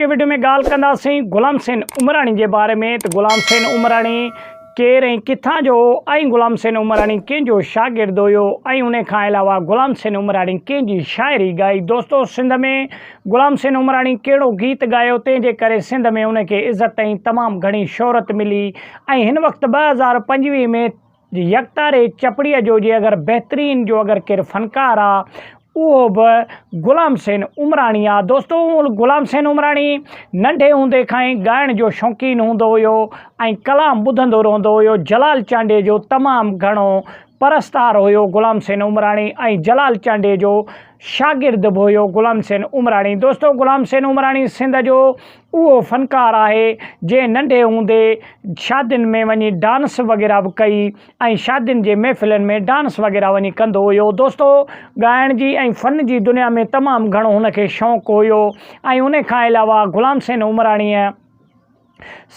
اڳتي وڊيو ۾ ڳالهه ڪنداسين غلام حسين عمراڻي جي باري ۾ ته غلام حسين عمراڻي ڪير ۽ ڪٿان جو هو ۽ غلام حسين عمراڻي ڪنهن جو شاگرد هيو ۽ ان کان علاوه غلام حسين عمراڻي ڪنهن جي شاعري ڳائي دوستو سنڌ ۾ غلام حسين عمراڻي ڪهڙو گيت ڳايو تنهن جي ڪري سنڌ ۾ ان کي عزت ۽ تمام گهڻي شهرت ملي ۽ هن وقت ٻه هزار پنجويهه ۾ جي يڪتاري چپڙي جو جي اگر بهترين جو اگر ڪير فنڪار آ اهو به غلام حسين عمراڻي آ دوستو غلام حسين عمراڻي ننڍي هوندي کان ئي ڳائڻ جو شوقين هوندو هيو ۽ ڪلام ٻڌندو رهندو هيو جلال چانڊيي جو تمام گهڻو پرستار هيو غلام حسين عمراڻي ۽ جلال چانڊيي جو شاگرد به هيو غلام حسين عمراڻي دوستو غلام حسين عمراڻي سنڌ جو اهو فنڪار آهي جنهن ننڍي هوندي شادين ۾ وڃي ڊانس وغيره به ڪئي ۽ شادين جي محفلن ۾ ڊانس وغيره وڃي ڪندو هيو دوستو ڳائڻ جي ۽ فن جي دنيا ۾ تمام گهڻو هن کي شوق هيو ۽ ان کان علاوه غلام حسين عمراڻيء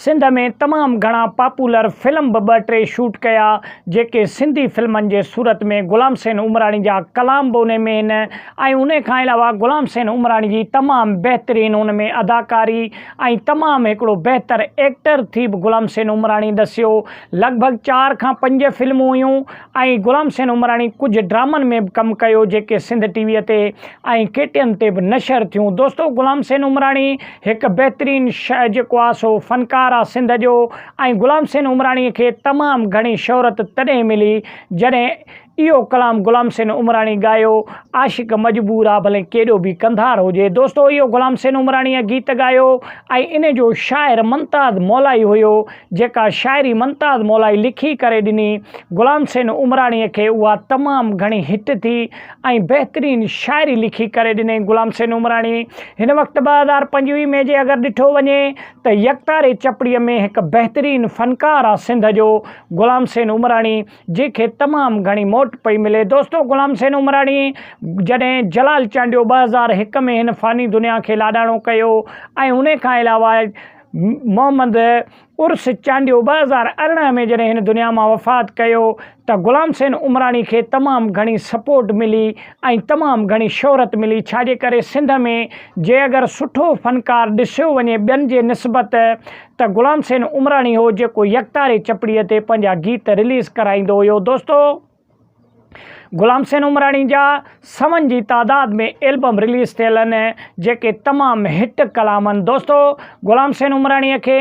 سنڌ ۾ تمام گهڻا پاپولر فلم به ٻه ٽي شوٽ ڪيا جيڪي سنڌي فلمن جي صورت ۾ غلام حسين عمراڻي جا ڪلام به انهي ۾ هن ۽ انهي کان علاوه غلام حسين عمراڻي جي تمام بهترين ان ۾ اداڪاري ۽ تمام هڪڙو بهتر ايڪٽر ٿي به غلام حسين عمراڻي دسيو لڳ ڀڳ چار کان پنج فلمون هيون ۽ غلام حسين عمراڻي ڪجهه ڊرامن ۾ به ڪم ڪيو جيڪي سنڌ ٽي وي تي ۽ ڪي ٽي ايم تي به نشر ٿيون دوستو غلام حسين عمراڻي هڪ بهترين شع جيڪو آ سو فنڪار آ سنڌ جو ۽ غلام حسين عمراڻي کي تمام گهڻي شهرت تڏهن ملي جڏهن اهو ڪلام غلام حسين عمراڻي ڳايو، عاشق مجبور آ ڀلين ڪيڏو به ڪنڌار هجي. دوستو اهو غلام حسين عمراڻيء گيت ڳايو ۽ ان جو شاعر ممتاز مولائي هيو، جيڪا شاعري ممتاز مولائي لکي ڪري ڏني. غلام حسين عمراڻيء کي اها تمام گهڻي هٽ ٿي ۽ بهترين شاعري لکي ڪري ڏنئين. غلام حسين عمراڻي هن وقت ٻه هزار پنجويهه ۾ جي اگر ڏٺو وڃي ته يڪتاري چپڙيء ۾ هڪ بهترين فنڪار آ سنڌ جو غلام حسين عمراڻي. جنهن کي تمام گهڻي موٽ پئي ملي. دوستو غلام حسين عمراڻيء جڏهن جلال چانڊيو ٻه هزار هڪ ۾ هن فاني دنيا کي لاڏاڻو ڪيو ۽ انهي کان علاوه محمد عرس چانڊيو ٻه هزار ارڙهن ۾ جڏهن هن دنيا مان وفات ڪيو ته غلام حسين عمراڻي کي تمام گهڻي سپورٽ ملي ۽ تمام گهڻي شهرت ملي ڇا جي ڪري سنڌ ۾ جي اگر سٺو فنڪار ڏسيو وڃي ٻين جي نسبت ته غلام حسين عمراڻي هو جيڪو يڪتاري چپڙي تي پنهنجا گيت رليز ڪرائيندو هيو دوستو غلام حسين عمراڻي جا سون جي تعداد ۾ البم رليز ٿيل آهن جيڪي تمام هٽ ڪلام آهن دوستو غلام حسين عمراڻي کي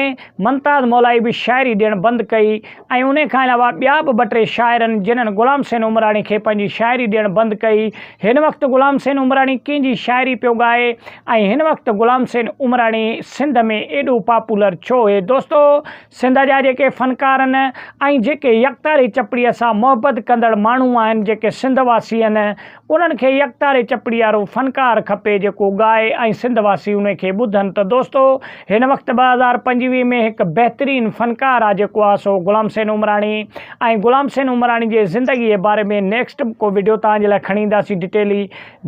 ممتاز مولائي به شاعري ڏيڻ بند ڪئي ۽ انهيء کان علاوه ٻيا به ٻه ٽي شاعرن جنھن غلام حسين عمراڻي کي پنھنجي شاعري ڏيڻ بند ڪئي. ھن وقت غلام حسين عمراڻي ڪنھن جي شاعري پيو ڳائي ۽ ھن وقت غلام حسين عمراڻي سنڌ ۾ ايڏو پاپولر ڇو ھي دوستو سنڌ جا جيڪي فنڪارن ۽ جيڪي يڪتاري چپڙي سان محبت ڪندڙ ماڻھو آھن جيڪي سنڌ واسي ھن انهن کي يڪتاري چپڙيارو فنڪار کپي جيڪو ڳائي ۽ سنڌ واسي انهي کي ٻڌن ته دوستو هن وقت ٻه هزار پنجويهه ۾ هڪ بهترين فنڪار آ جيڪو آ سو غلام حسين عمراڻي ۽ غلام حسين عمراڻي جي زندگي جي باري ۾ نيڪسٽ به ڪو وڊيو توهان جي لاء کڻي اينداسين ڊٽيلي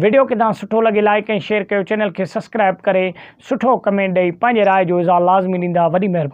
وڊيو ڪيدان سٺو لڳي لائيڪ ۽ شيئر ڪيو چينل کي سسڪرائب ڪري سٺو ڪمينٽ ڏئي پنهنجي راء جو اظهار لازمي ڏيندا وڏي مهرباني.